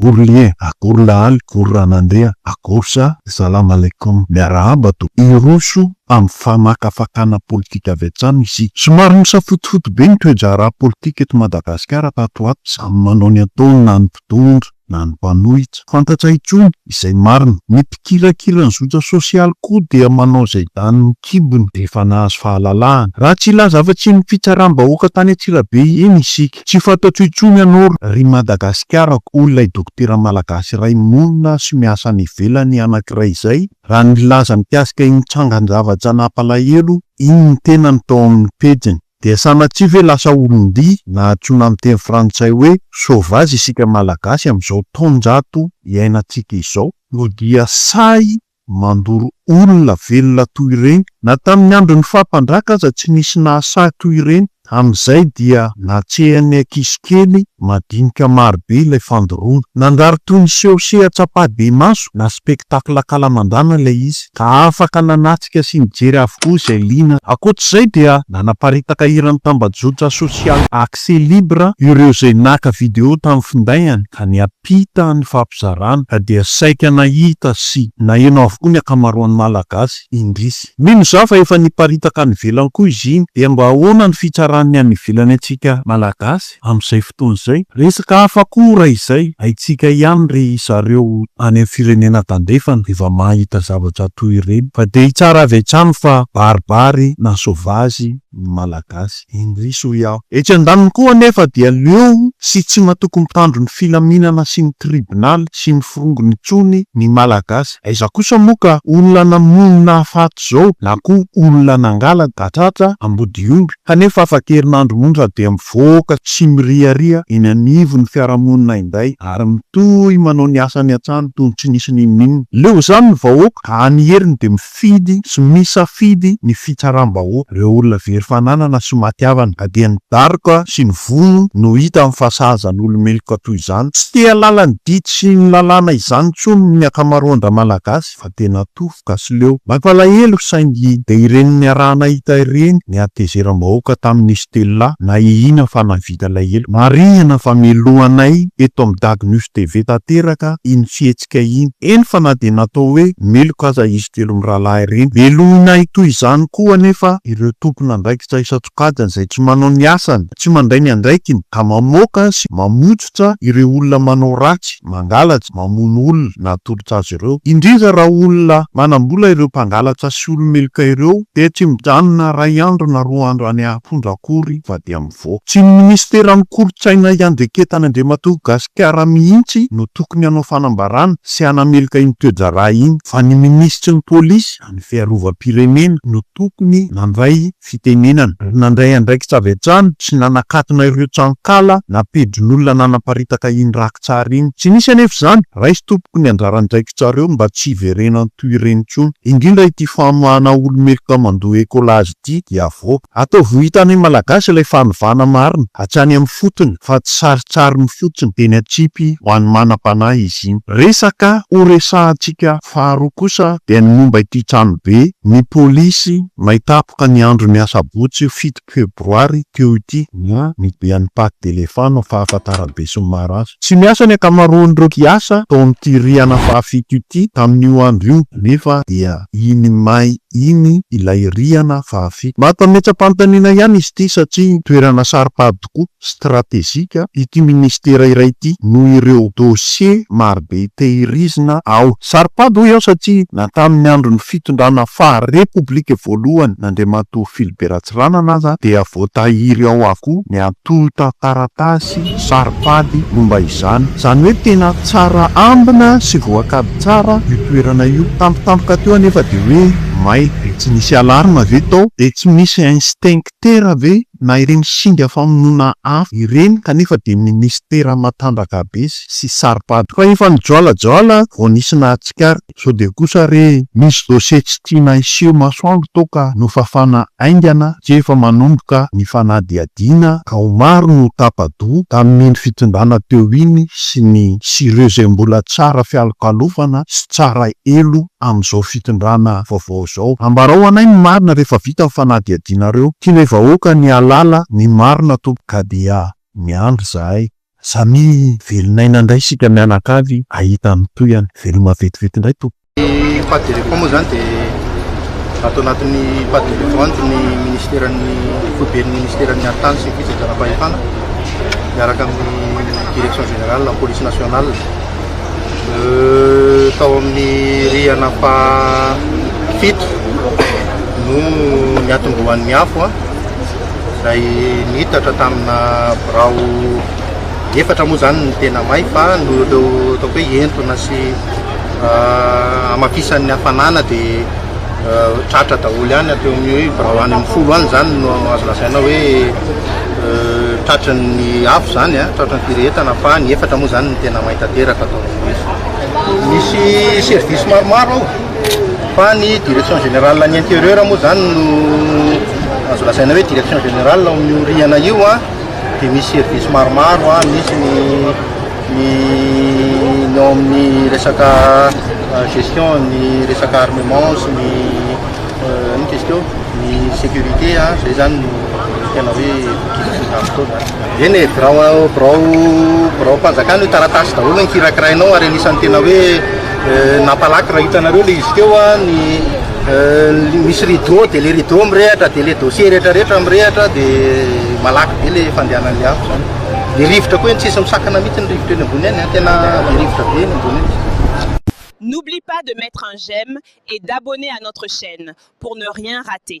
Ourlie, akory lahaly, kory ranandria, akory sa, Salam alaikum, miarahaba to, hiroso amin'ny fanakafakana politika avy hatrany isika. Somary nisafotofoto be ny toe-draharaha politika eto Madagasikara tato ho ato, samy manao ny ataony na ny mpitondra na ny mpanohitra. Fantatra intsony izay marina. Ny mpikirakira ny zotra sosialy koa dia manao izay danin'ny kibony rehefa nahazo fahalalahana. Raha tsy hilaza afa-tsy iny fitsaram-bahoaka tany Antsirabe iny isika. Tsy fantatro intsony ianao ry Madagasikara akory ilay dokotera malagasy iray monina sy miasa any ivelany anankiray izay raha nilaza mikasika iny trangan-javatra nampalahelo iny ny tenany tao amin'ny pejiny. Dia sanatria ve lasa olon-dia na antsoina amin'ny teny frantsay hoe sauvage isika malagasy amin'izao taonjato iainantsika izao? No dia sahy mandoro olona velona toy ireny. Na tamin'ny andron'ny faha mpandraka aza tsy nisy nahasahy toy ireny. Amin'izay dia natsehan'ny ankizy kely madinika marobe ilay fandoroana. Nanjary toy ny seho seha-tsapahi-bemaso na spectacle an-kalamandana ilay izy, ka afaka nanatrika sy nijery avokoa izay liana. Ankoatr'izay dia nanaparitaka hiran'ny tambajotra sosialy Accès Libre ireo izay naka video tamin'ny findainy ka niha. Mpita ny fampizarana ka dia saika nahita sy naheno avokoa ny ankamaroan'ny Malagasy, indrisy. Mino izaho fa efa niparitaka any ivelany koa izy iny. Dia mba ahoana ny fitsaran'ny any ivelany antsika Malagasy amin'izay fotoana izay? Resaka hafa koa raha izay, haintsika ihany ry zareo any amin'ny firenena tandrefana rehefa mahita zavatra toy ireny fa dia hitsara avy hatrany fa baribary na sauvage ny Malagasy indrisy hoy aho. Etsy andaniny koa anefa dia leo sy tsy matoky mitandro ny filaminana sy ny tribonaly sy ny forongony intsony ny Malagasy. Aiza kosa moa ka olona namono nahafaty izao na koa olona nangala gatratra ambodiomby kanefa afa-kerinandro monja dia mivoaka tsy miriaria eny anivon'ny fiarahamonina indray ary mitohy manao ny asany hatrany toy ny tsy nisy n'inon'inona. Leo izany ny vahoaka ka any heriny dia Fidy sy misafidy ny fitsaram-bahoaka ireo olona very fananana sy maty havana ka dia ny daroka sy ny vono no hitany fa sahaza ny olo-meloka toy izany. Tsy te halala ny didy sy ny lalàna izany intsony ny ankamaroan-dRamalagasy fa dia natofoka sy leo. Mampalahelo saingy dia ireny niaraha-nahita ireny ny hatezeram-bahoaka tamin'i Stella na i Ina fa nahavita lahelo. Marihina fa melohanay eto amin'ny Dagy News TV tanteraka iny fihetsika. bitika iny. Eny fa na dia natao hoe meloka aza izy telo mirahalahy ireny. Melohina hitohy izany koa anefa ireo tompon'andraikitra isan-tsokajiny izay tsy manao ny asany, tsy mandray ny andraikiny ka mamoaka sy mamotsitra ireo olona manao ratsy, mangalatra, mamono olona na atolotra azy ireo. Indrindra raha olona manam-bola ireo mpangalatra sy olo-meloka ireo dia tsy mijanona iray andro na roa andro any am-ponja akory fa dia Vo. Tsy ny minisiteran'ny kolontsaina hiandraiketana Andriamatoa Gasikara mihitsy no tokony hanao fanambarana sy hanameloka iny toe-draharaha iny fa ny minisitry ny polisy any fiarovam-pirenena no tokony nandray fitenenana ary nandray andraikitra avy hatrany sy nanakatona ireo tranonkala na pejin'olona nanaparitaka iny rakitsary iny. Tsy nisy anefa izany. Raiso tompoko ny anjaran-draikitrareo mba tsy hiverenan toy ireny intsony. Indrindra ity famoahana olo-meloka mandoa ecolage ity dia vo. Ataovy ho hitan'ny Malagasy ilay fanovana marina hatrany amin'ny fotony fa tsy sarintsariny fotsiny eny an-tsipy ho an'ny manam-panahy izy iny. Resaka ho resahantsika faharoa kosa dia ny momba ity tranobe ny polisy may tapoka ny andron'ny asabotsy fito febroary teo ity na ny dian'ny Patte d'Elephant no fahafantaram-be sy ny maro azy. Tsy miasa ny ankamaroan'ireo mpiasa tao amin'ity rihana fahafito ity tamin'io andro io nefa dia iny may iny ilay rihana fahafito. Mahatametsa-panontaniana ihany izy ity satria toerana saro-pady tokoa, stratejika, ity ministera iray ity noho ireo dosie marobe tehirizina ao. Saro-pady hoy aho satria na tamin'ny andron'ny fitondrana faha repoblika voalohany n'Andriamatoa Philibert Ratsiranana aza dia voatahiry ao avokoa ny Tontan-taratasy, saro-pady, momba izany. Izany hoe tena tsara ambina sy voakady tsara io toerana io. Tampotampoka teo anefa dia hoe may. Dia tsy nisy alarme ve tao? Dia tsy misy instincteur ve? Na ireny singa famonoana afo ireny? Kanefa dia ministera matanjaka be sy saro-pady. Fa efa nijoalajoala vao nisy nahatsikaritra. Sao dia kosa re misy dossier tsy tiana hiseho masoandro toaka nofafana haingana tsy efa manomboka ny fanadihadiana ka ho maro no tapa-doha tamin'iny fitondrana teo iny sy ny sy ireo izay mbola tsara fialokalofana sy tsara elo amin'izao fitondrana vaovao izao. Ambarao anay ny marina rehefa vita ny fanadihadianareo. Tianay vahoaka ny hahalala ny marina tompoko ka dia miandry izahay. Samia velon'aina indray isika mianakavy ahita ny tohiny. Veloma vetivety indray tompoko. Ny pas de repos moa izany dia ato anatin'ny pas de repos ny minisiteran'ny foiben'ny minisiteran'ny haritany sy ny fitsinjaram-pahefana miaraka amin'ny direction générale police nationale tao amin'ny rihana fahafito no niatombohan'ny afo. izay niitatra tamina birao efatra moa izany ny tena may fa noho ireo ataoko hoe entona sy hamafisan'ny hafanana dia tratra daholo ihany ateo amin'ny hoe birao any amin'ny folo any izany no azo lazaina hoe tratran'ny afo izany a tratran'ny firehetana fa ny efatra moa izany ny tena may tanteraka atao amin'ny voizy misy service maromaro ao fa ny direction générale ny intérieur moa zany no azo lazaina hoe direction générale ao amin'ny orihana io a dia misy service maromaro a misy ny ny ny ao amin'ny resaka euh, gestion ny resaka armement sy ny euh, ny tesiko ny sécurité a zay zany no tena hoe kivitavitao zany eny e birao birao birao mpanjakana io taratasy daholo ny kirakirainao ary anisan'ny tena hoe Nampalaky raha hitanareo le izy teo a, ny misy rideau de le rideau mirehatra de le dossier rehetra rehetra mirehatra de malaky be le fandehanan'le afo zany. Ny rivotra koa eny tsisy misakana mihitsy ny rivotra eny ambony eny a, tena be rivotra be eny ambony eny. N'oublie pas de mettre un j'aime et d'abonner à notre chaîne pour ne rien rater.